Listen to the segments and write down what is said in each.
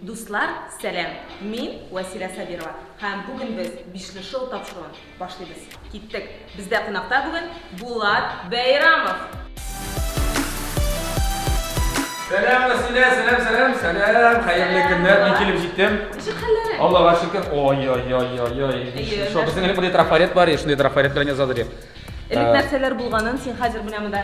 Дуслар, сәлам! Мин Василә Сабирова һәм бүген без Бишлешоу тапшыруын Башлыйбыз. Киттек! Бездә кунакта бүген Булат Бәйрамов! Сәлам, Василия, сәлам, сәлам, сәлам, хәерле көннәр, мин килеп җиттем. Ничек хәлләрең? Аллага шөкер. Ой, ой, ой, ой, ой. Шо, безнең элек бер трафарет бар, шундый трафарет белән язалар иде. Элек нәрсәләр булганын син хәзер менә монда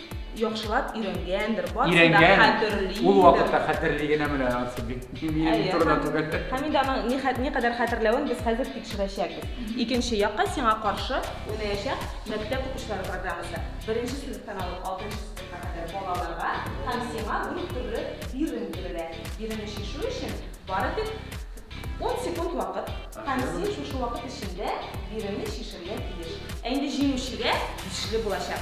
яхшылап өйрәнгәндер, барысын да хәтерлидер. Ул вакытта хәтерли генә менә ансы бик. Минем турына түгел. Һәм инде аның ни кадәр хәтерләвен без хәзер тикшерәчәкбез. Икенче якка сиңа каршы уйнаячак мәктәп укучылары программасы. Беренче сыйныфтан алып алтынчы сыйныфка кадәр балаларга һәм сиңа дүрт төрле бирем бирелә. Биремне чишү өчен бары тик 10 секунд вакыт һәм син шушы вакыт эчендә биремне чишергә тиеш. Ә инде җиңүчегә тиешле булачак.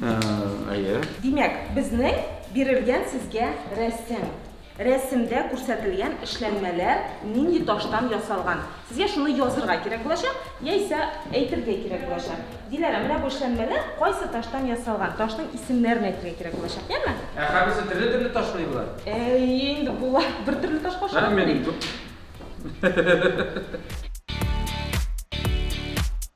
Әйе. Димәк, безнең бирелгән сезгә рәсем. Рәсемдә күрсәтелгән эшләнмәләр нинди таштан ясалган? Сезгә шуны язырга кирәк булачак, яисә әйтергә кирәк булачак. Диләрә, менә бу эшләнмәләр кайсы таштан ясалган? Таштың исемнәрен әйтергә кирәк булачак, яме? Ә хәбисе төрле-төрле ташмы болар? Әйе инде, болар бер төрле ташка ошамый бит.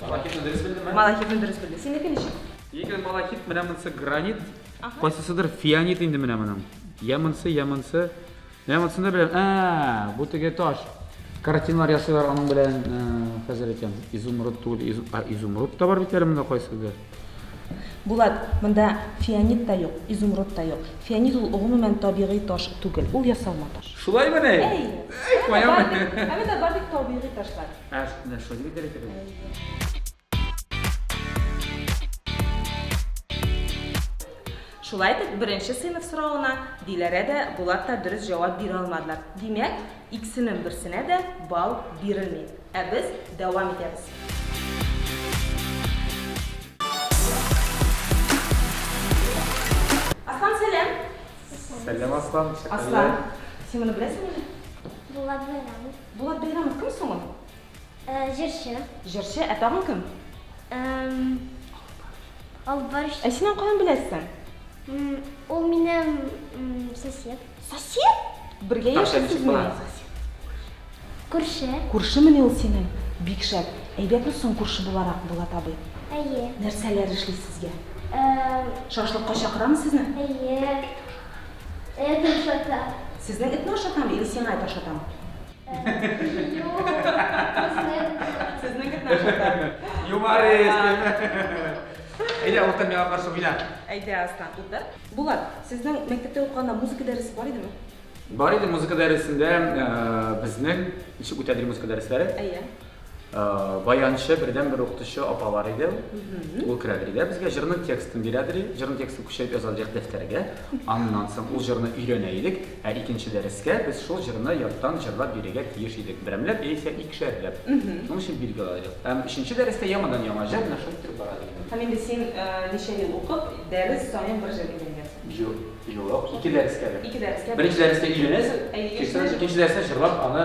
Малахитны дөрес белдемме? Малахитны дөрес белде. Синеке ничек? Егер малахит менә монысы гранит, кайсысыдыр фианит инде менә моның. Я монысы, я монысы. Менә монысы да беләм. Ә, бу теге таш. Картиналар ясыйлар аның белән, хәзер әйтәм. Изумруд түгел, изумруд та бар бит әле монда кайсыдыр. Булат, монда фианит та юк, изумруд та юк. Фианит ул гомумән табигый таш түгел, ул ясалма таш. Шулаймы ни? Әй! Әй, каямы? Ә монда бар бит табигый ташлар. Ә, менә шулай дип әйтәләр икән бит. Шулай итеп, беренче сыйныф соравына Диләрә дә, Булат та дөрес җавап бирә алмадылар. Димәк, иксенең берсенә дә балл бирелми. Ә без дәвам итәбез. Аслан, сәлам! Сәлам, Аслан, ничек хәлләр? Аслан, син моны беләсеңмени? Булат Бәйрәмов. Булат Бәйрәмов кем соң ул? Ә, җырчы. Җырчы, ә тагын кем? Эм, Албарч. Ә син аны каян беләсең? М, Ул минем м, сосед. Сосед? Бергә Тамча яшисез ничек була? мени? Күрше. Күрше мени ул синең? Бик шәп. Әйбәтме соң күрше буларак, Булат абый? Әйе. Нәрсәләр эшли сезгә? Эм, Шашлыкка чакырамы сезне? Әйе. Эт ашата. Сезнең этне ашатамы или сиңа эт ашатамы? Әйдә, урта миңа каршы уйна. Әйдә, Аслан, утыр. Булат, сезнең мәктәптә укыганда музыка дәресе бар идеме? Бар иде музыка дәресендә безнең ничек үтәдер музыка дәресләре? Әйе. баянчы бердән бер укытучы апалар иде ул керәдер иде безгә җырның текстын бирәдер иде җырның текстын күчереп яза идек дәфтәргә аннан соң ул җырны өйрәнә идек ә икенче дәрескә без шул җырны яттан җырлап бирергә тиеш идек берәмләп яисә икешәрләп шуның өчен билге ала идек һәм өченче дәрестә яңадан яңа җыр менә шул китеп бара дигән һәм инде син ничә ел укып дәрес саен бер җыр өйрәнгәнсең юк ике дәрескә бер беренче дәрескә өйрәнәсең икенче дәрестә җырлап аны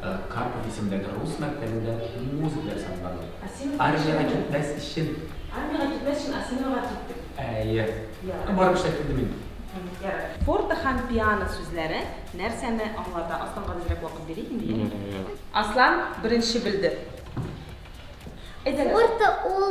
Карпов исемендәге рус мәктәбендә музыка дәресандалар. Асимова Армиягә китмәс өчен. Армиягә китмәс өчен Асимовага киттек. Әйе. Ярар. Барып эшләп килдем мин. Ярар. Форте һәм пиано сүзләре нәрсәне аңлата? Асланга безрәк вакыт бирик инде, яме? Аслан беренче белде. Әйдәгез. Форте ул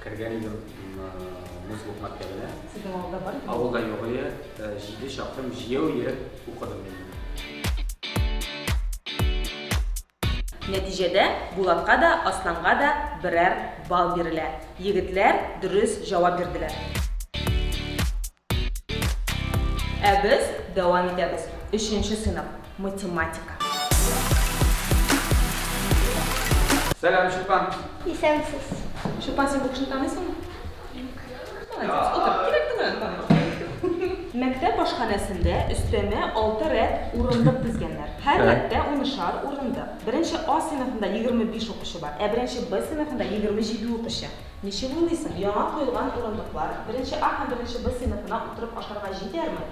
Кергән идем музыка уку мәктәбенә. Сезнең авылда бар икән? Авылда юк ие. Җиде чакрым җәяү йөреп укыдым мин. Нәтиҗәдә Булатка да, Асланга да берәр балл бирелә. Егетләр дөрес җавап бирделәр. Ә без дәвам итәбез. Өченче сыйныф, математика. Сәлам, Чулпан. Исәнмесез. Чулпан, син бу кешене таныйсыңмы? Молодец. Утыр. Кирәк түгел. Мәктәп ашханәсендә өстәмә алты рәт урындык дизгәннәр. Һәр рәттә унышар урындык. Беренче А сыйныфында 25 укучы бар, ә беренче Б сыйныфында 27 укучы. Ничек уйлыйсың, яңа куелган урындыклар беренче А һәм беренче Б сыйныфына утырып ашарга җитәрме?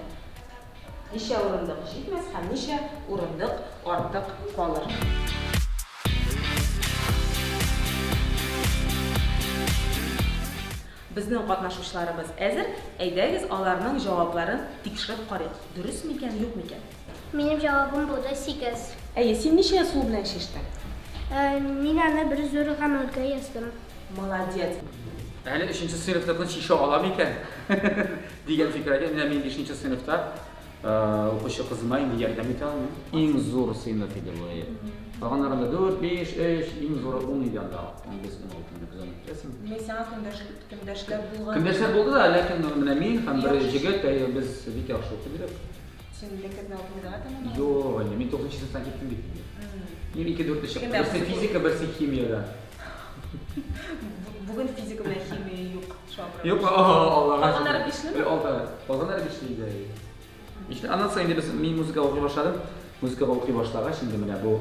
Ничә урындык җитмәс һәм ничә урындык артык калыр? Безнең катнашучыларыбыз әзер, әйдәгез аларның җавапларын тикшереп карыйк, дөрес микән, юк микән. Минем җавабым булды сигез. Әйе, син ничә сул белән чиштең? Мин аны бер зур гамәлгә яздым. Молодец. Әле өченче сыйныфтыкны чишә ала микән? дигән фикер әйтә. Менә мин бишенче сыйныфта укучы кызыма инде ярдәм итә алмыйм. Иң зур сыйныф иде бу. Калганнарында дүрт, биш, өч, иң зуры ун иде анда. Без ун алты идек, аны әйтәсеңме? Мин сиңа көндәшләр булган. Көндәшләр булды да, ләкин менә мин һәм бер җегет, без бик яхшы укыйбыз. Син милләтләрне укымыйда атамын. Юк, әле мин 9 сыныптан киттем бит инде. Мин 2 4 чыктым. Берсе физика, берсе химиядә. Бүген физика белән химия юк. Юк, Аллага. Алганнар бишлеме? Алда. Алганнар бишле иде. Ишле. Аннан соң инде без мин музыка укый башладым. Музыка укый башлагач инде менә бу.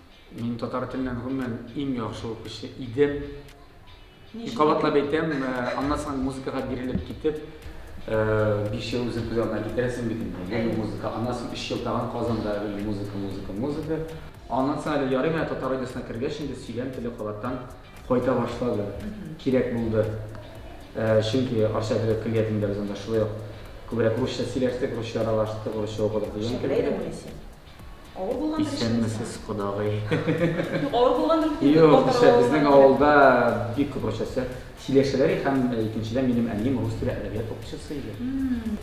Мин татар теленнән гомумән иң яхшы укучы идем. Мин кабатлап әйтәм, э, аннан соң музыкага бирелеп китеп, э, биш ел үзең күз алдына китерәсең бит инде. Гел музыка, аннан соң өч ел тагын Казанда гел музыка, музыка, музыка. Аннан соң әле ярый менә татар радиосына кергәч инде сөйләм теле кабаттан кайта башлады. Кирәк булды. Э, чөнки Арча дәүләт көллиятендә без анда шулай ук күбрәк русча сөйләштек, русча аралаштык, русча укыдык дигән кебек. Авыр булгандыр эшегез. Исәнмесез, кодагый. Юк, авыр булгандыр бит инде. Юк, кичә безнең авылда бик күп русчасы сөйләшәләр иде һәм икенчедән минем әнием рус теле әдәбият укытучысы иде.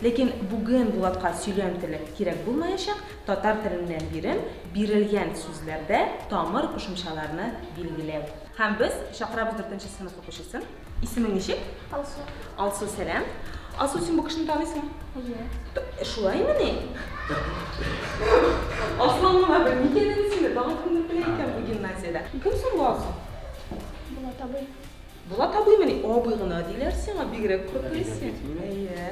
Ләкин бүген Булатка сөйләм теле кирәк булмаячак, татар теленнән бирем, бирелгән сүзләрдә тамыр кушымчаларны билгеләү. Һәм без чакырабыз дүртенче сыйныф укучысын. Исемең ничек? Алсу. Алсу, сәлам. Алсу, син бу кешене таныйсың? Әйе. Э, Шулаймы ни? Аслан миңа бер ни кирәк сине, тагын кемдер белә икән бу гимназиядә. Кем соң бу Алсу? Булат абый. Булат абыймы ни? Абый гына диләр сиңа, бигрәк күреп беләсең. Әйе.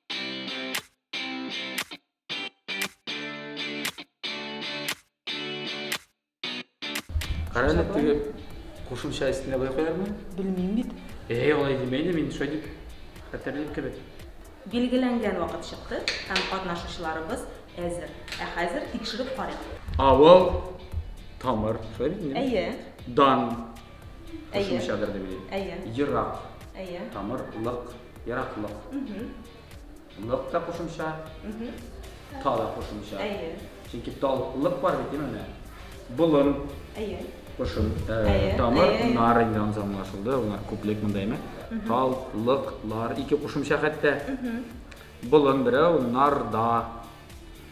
Карәлек теге кушымча истенә бай куярмы? Белмим бит. Әй, алай димә инде, мин шулай дип хәтерлим кебек. Билгеләнгән вакыт чыкты һәм катнашучыларыбыз әзер. Ә хәзер тикшереп карыйк. Авыл, тамыр, шулай бит инде? Әйе. Дан. Кушымчадыр дип уйлыйм. Әйе. Ерак. Әйе. Тамыр, лык, ераклык. Лык та кушымча, та да кушымча. Әйе. Чөнки тал, лык бар бит, димәме? Болын. Әйе. Кушым, э, тамыр, нар инде анысы аңлашылды, алар күплек монда әйме. Тал, лык, лар, ике кушымча хәтта. Болын берәү, нар, да.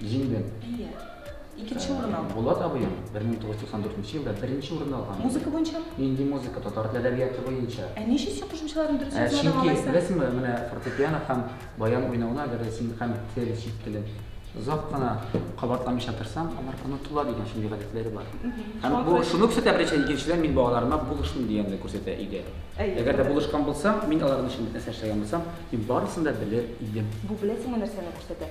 Җиңдем. Әйе. Икенче э, урын алдым. Булат абыем 1994 елда беренче урын алган. Музыка буенча? Нинди музыка? Татар теле әдәбияты буенча. Ә ничә син кушымчаларын дөрес э, язмадың алайса? Чөнки беләсеңме, менә фортепиано һәм баян уйнауына гәр син һәм тел чит теле озак кына кабатламыйча торсаң, алар онытыла дигән шундый гадәтләре бар. Һәм бу шуны күрсәтә беренче икенчедән мин балаларыма булышмыйм дигәнне күрсәтә иде. Әгәр дә булышкан булсам, мин аларның өчен нәрсә эшләгән булсам, мин барысын да белер идем. Бу беләсеңме нәрсәне күрсәтә?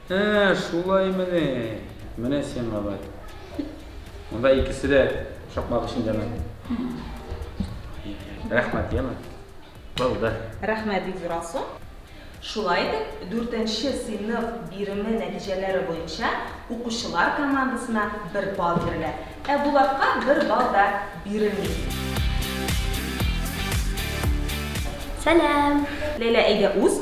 Ә, шулаймени? Менә сиңа бәт. Монда икесе дә шакмак эчендәме? Рәхмәт, яме. Булды. Рәхмәт, бик зур алсу. Шулай итеп, дүртенче сыйныф биреме нәтиҗәләре буенча укучылар командасына бер балл бирелә, ә Булатка бер балл да бирелми. Сәлам! Ләйлә, әйдә уз,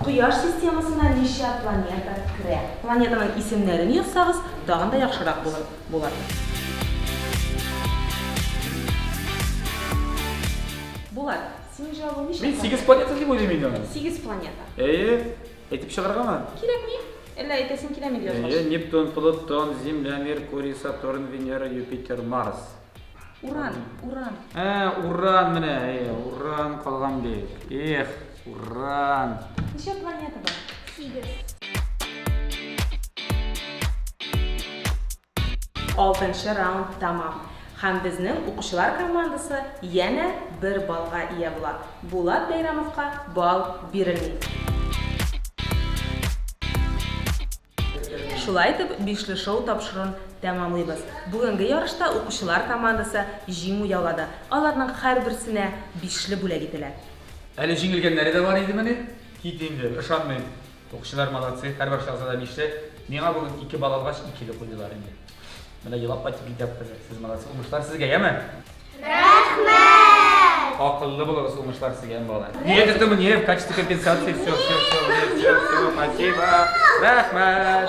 Кояш системасына ничә планета керә? Планетаның исемнәрен язсагыз, тагын да яхшырак булыр булыр. Булат, син җавабың ничә? Мин сигез планета дип уйлыйм инде аны. Сигез планета. Әйе. Әйтеп чыгаргамы? Кирәкми. Әллә әйтәсең киләме дип язгач? Әйе, Нептун, Плутон, Земля, Меркурий, Сатурн, Венера, Юпитер, Марс. Уран, уран. Ә, уран менә, э, уран калган бит. Эх, уран. Ничә планета бар? Сигез. Алтынчы раунд тәмам. Һәм безнең укучылар командасы янә бер балга ия була. Булат Бәйрәмовка бал бирелми. Шулай итеп, бишле шоу тапшыруын тәмамлыйбыз. Бүгенге ярышта укучылар командасы җиңү яулады. Аларның һәрберсенә бишле бүләк ителә. Әле җиңелгәннәре дә бар идемени? Кит инде, ышанмыйм. Укучылар молодцы, һәрбер шаһзадә бишле. Миңа бүген ике балл алгач, икеле куйдылар инде. Менә елап кайтып китәбез. Сез молодцы, уңышлар сезгә, яме? Рәхмәт! Акыллы булыгыз, уңышлар сезгә, яме бала. Нигә дөртем, нигә в качестве компенсации, все, все, все, все, все, спасибо. Рәхмәт!